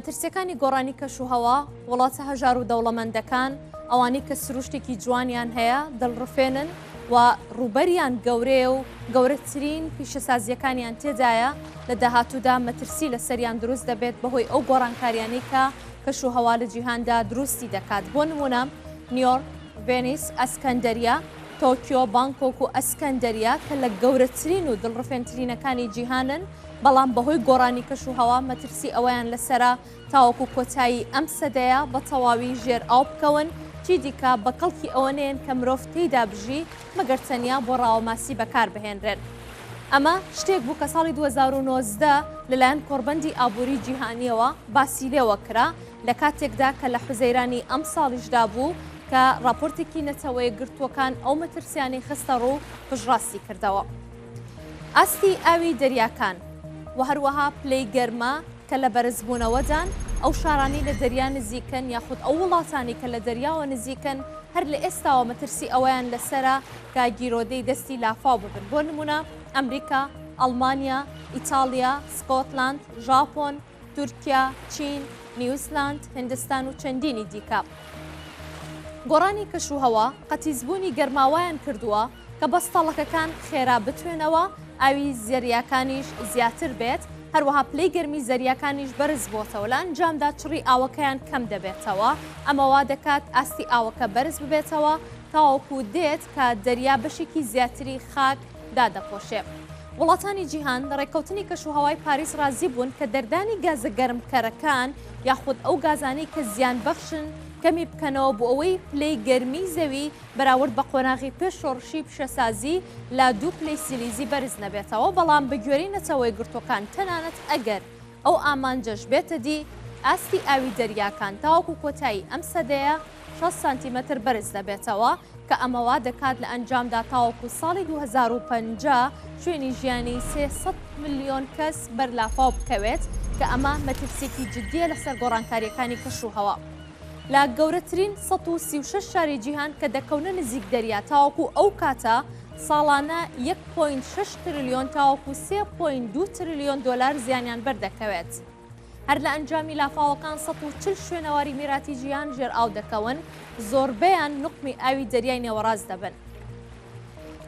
مەترسیەکانی گۆڕانی کەش و هەوا، وڵاتە هەژار و دەوڵەمەندەکان، ئەوانەی کە سروشتێکی جوانیان هەیە، دڵڕفێنن و ڕووبەریان گەورەیە و گەورەترین پیشەسازییەکانیان تێدایە، لە داهاتوودا مەترسی لەسەریان دروست دەبێت بەهۆی ئەو گۆڕانکاریانەی کە کەش و هەوا لە جیهاندا دروستی دەکات، بۆ نموونە نیۆرک، ڤێنیس، ئەسکەندەریە، تۆکیۆ، بانکۆک و ئەسکەندەریە کە لە گەورەترین و دڵڕفێنترینەکانی جیهانن، بەڵام بەهۆی گۆڕانی کەشوهەوا مەترسی ئەوەیان لەسەرە تاوەکو کۆتایی ئەم سەدەیە بە تەواوی ژێر ئاو بکەون، چیدیکە بە کەڵکی ئەوە نێن کە مرۆڤ تێیدا بژی مەگەر تەنیا بۆ ڕاوە ماسی بەکاربهێنرێن. ئەمە شتێک بوو کە ساڵی دوو هەزار و نۆزدە لەلایەن کۆڕبەندی ئابووری جیهانییەوە باسی لێوە کرا، لە کاتێکدا کە لە حوزەیرانی ئەمساڵیشدا بوو کە ڕاپۆرتێکی نەتەوەیەکگرتووەکان ئەو مەترسیانەی خستەڕوو پشتڕاستی کردەوە. ئاستی ئاوی دەریاکان و هەروەها پلەی گەرما کە لە بەرزبوونەوەدان، ئەو شارانەی لە دەریا نزیکن یاخود ئەو وڵاتانەی کە لە دەریاوە نزیکن هەر لە ئێستاوە مەترسی ئەوەیان لەسەرە کە گیرۆدەی دەستی لافاو ببن بۆ نموونە ئەمریکا، ئەڵمانیا، ئیتاڵیا، سکۆتلاند، ژاپۆن، تورکیا، چین، نیوزلاند، هندستان و چەندینی دیکە. گۆڕانی کەشوهەوا قەتیسبوونی گەرماوایان کردووە کە بەستەڵەکەکان خێرا بتوێنەوە، ئاوی زەریاکانیش زیاتر بێت، هەروەها پلەی گەرمی زەریاکانیش بەرز بۆتەوە، لە ئەنجامدا چڕی ئاوەکەیان کەم دەبێتەوە، ئەمە وا دەکات ئاستی ئاوەکە بەرز ببێتەوە تاوەکو دێت کە دەریا بەشێکی زیاتری خاک دادەپۆشێ. وڵاتانی جیهان لە ڕێککەوتنی کەشوهەوای پاریس ڕازی بوون کە دەردانی گازە گەرمکەرەکان یاخود ئەو گازانەی کە زیانبەخشن کەمی بکەنەوە بۆ ئەوەی پلەی گەرمیی زەوی بەراورد بە قۆناغی پێش شۆڕشی پیشەسازی لە دوو پلەی سیلیزی بەرز نەبێتەوە، بەڵام بەگوێرەی نەتەوەیەکگرتووەکان تەنانەت ئەگەر ئەو ئامانجەش بێتە دی، ئاستی ئاوی دەریاکان تاوەکو کۆتایی ئەم سەدەیە شەست سانتیمەتر بەرز دەبێتەوە، کە ئەمە وا دەکات لە ئەنجامدا تاوەکو ساڵی دوو هەزار و پەنجا شوێنی ژیانی سێ سەد ملیۆن کەس بەر لافاو بکەوێت، کە ئەمە مەترسییەکی جددییە لەسەر گۆڕانکارییەکانی کەشوهەوا. لە گەورەترین سەد و سی و شەش شاری جیهان کە دەکەونە نزیک دەریا تاوەکو ئەو کاتە ساڵانە یەک پۆینت شەش ترلیۆن تاوەکو سێ پۆینت دوو ترلیۆن دۆلار زیانیان بەردەکەوێت. هەر لە ئەنجامی لافاوەکان سەد و چل شوێنەواری میراتی جیهان ژێرئاو دەکەون، زۆربەیان نوقمی ئاوی دەریای نێوەڕاست دەبن.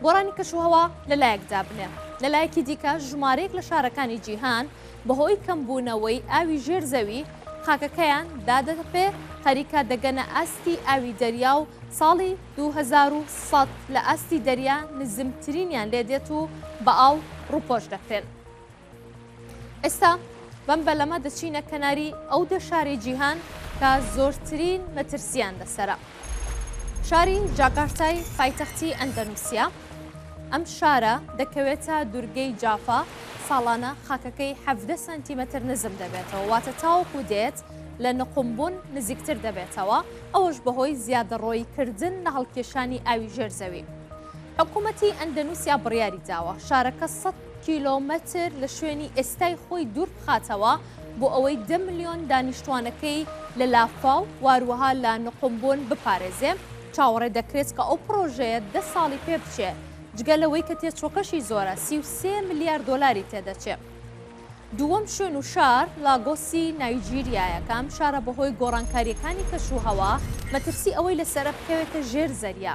گۆڕانی کەشوهەوا لە لایەک دابنێ، لە لایەکی دیکە ژمارەیەک لە شارەکانی جیهان بەهۆی کەمبوونەوەی ئاوی ژێر زەوی خاکەکەیان دادەتەپێ، خەریکە دەگەنە ئاستی ئاوی دەریا و ساڵی دوو هەزار و سەد لە ئاستی دەریا نزمترینیان لێدێت و بە ئاو ڕووپۆش دەکرێن. ئێستا بەم بەلەمە دەچینە کەناری ئەو دە شاری جیهان کە زۆرترین مەترسیان لەسرە. شاری جاکارتای پایتەختی ئەندەنووسیا ئەم شارە دەکەوێتە دوورگەی جافا ساڵانە خاکەکەی ح سانتیمەتر نزم دەبێتەوە واتە تاوەکو دێت لە نقمبوون نزیکتر دەبێتەوە ئەوەش بەهۆی زیادەڕۆی کردن لە هەڵکێشانی ئاوی ژێر زەوی حکوومەتی ئەندەنووسیا بڕیاری داوە شارەکە سە کیلۆمەتر لە شوێنی ئێستای خۆی دوور بخاتەوە بۆ ئەوەی دە ملیۆن دانیشتوانەکەی لە لافاو و هەروەها لە نقومبۆن بپارێزێ، چاوەڕێ دەکرێت کە ئەو پڕۆژەیە دە ساڵی پێ بچێ، جگە لەوەی کە تێچووەکەشی زۆرە، سی و سێ ملیار دۆلاری تێ دەچێ. دووەم شوێن و شار لاگۆسی نایجیریایە کە ئەم شارە بەهۆی گۆڕانکارییەکانی کەشوهەوا مەترسی ئەوەی لەسەرە بکەوێتە ژێر زەریا.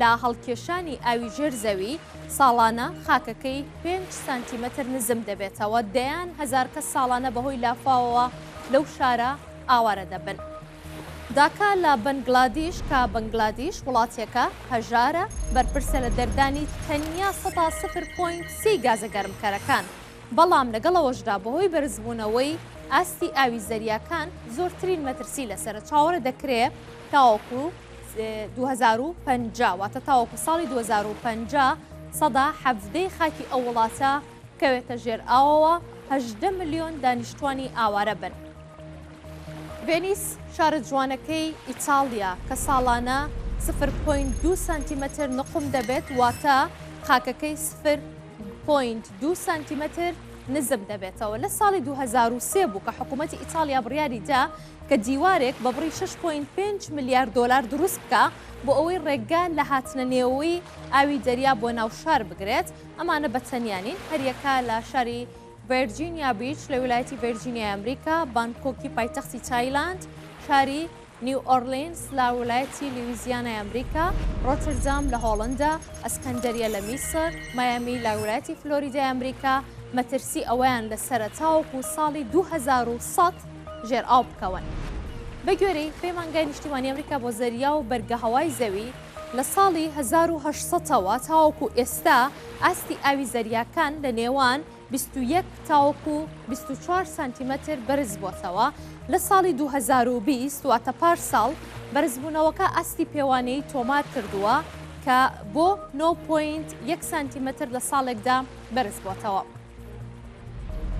لە هەڵکێشانی ئاوی ژێر زەوی، ساڵانە خاکەکەی پێنج سانتیمەتر نزم دەبێتەوە، دەیان هەزار کەس ساڵانە بەهۆی لافاوەوە لەو شارە ئاوارە دەبن. داکا لە بەنگلادیش، کە بەنگلادیش وڵاتێکە هەژارە، بەرپرسە لە دەردانی تەنیا سەدا سفر پۆینت سێی گازە گەرمکەرەکان، بەڵام لەگەڵ ئەوەشدا بەهۆی بەرزبوونەوەی ئاستی ئاوی زەریاکان زۆرترین مەترسی لەسەرە، چاوەڕێ دەکرێ تاوەکو. دوو هەزار و پەنجا واتە تاوەکو ساڵی دوو هەزار و پەنجا سەدا حەڤدەی خاکی ئەو وڵاتە بکەوێتە ژێر ئاوەوە هەژدە ملیۆن دانیشتوانی ئاوارە بن. ڤێنیس شارە جوانەکەی ئیتاڵیا کە ساڵانە سفر پوینت دو سانتیمەتر نقوم دەبێت واتە خاکەکەی سفر پوینت دو سانتیمەتر نزم دەبێتەوە لە ساڵی 2023 بوو کە حکوومەتی ئیتالیا بڕیاری دا کە دیوارێک بە بڕی شەش پۆینت پێنج ملیار دۆلار دروست بکا بۆ ئەوەی ڕێگە لە هاتنە نێۆەوەی ئاوی دەریا بۆ ناو شار بگرێت، ئەمانە بە تەنیا نین، هەریەکە لە شاری ڤێرجینیا بیچ لە ویلایەتی ڤێرجینیای ئەمریکا، بانکۆکی پایتەختی تایلاند، شاری نیو ئۆرلینس لە ویلایەتی لیویزیانای ئەمریکا، ڕۆتردام لە هۆڵندا، ئەسکەندەریە لە میسر، مایامی لە ویلایەتی فلۆریدای ئەمریکا مەترسی ئەوەیان لە سەرە تاوەکو ساڵی دوو هەزار و سەد، ژێر ئاو بکەون. بەگوێرەی پەیمانگای نیشتیمانی ئەمریکا بۆ زەریا و بەرگەهەوای زەوی، لە ساڵی هەزار و هەشت سەد ەوە تاوەکو ئێستا ئاستی ئاوی زەریاکان لە نێوان بیست و یەک تاوەکو بیست و چوار سانتیمەتر بەرزبووەتەوە، لە ساڵی دوو هەزار و بیست واتە پارساڵ بەرزبوونەوەکە ئاستی پێوانەیی تۆمارکردووە کە بۆ نۆ پۆینت یەک سانتیمەتر لە ساڵێکدا بەرزبووەتەوە.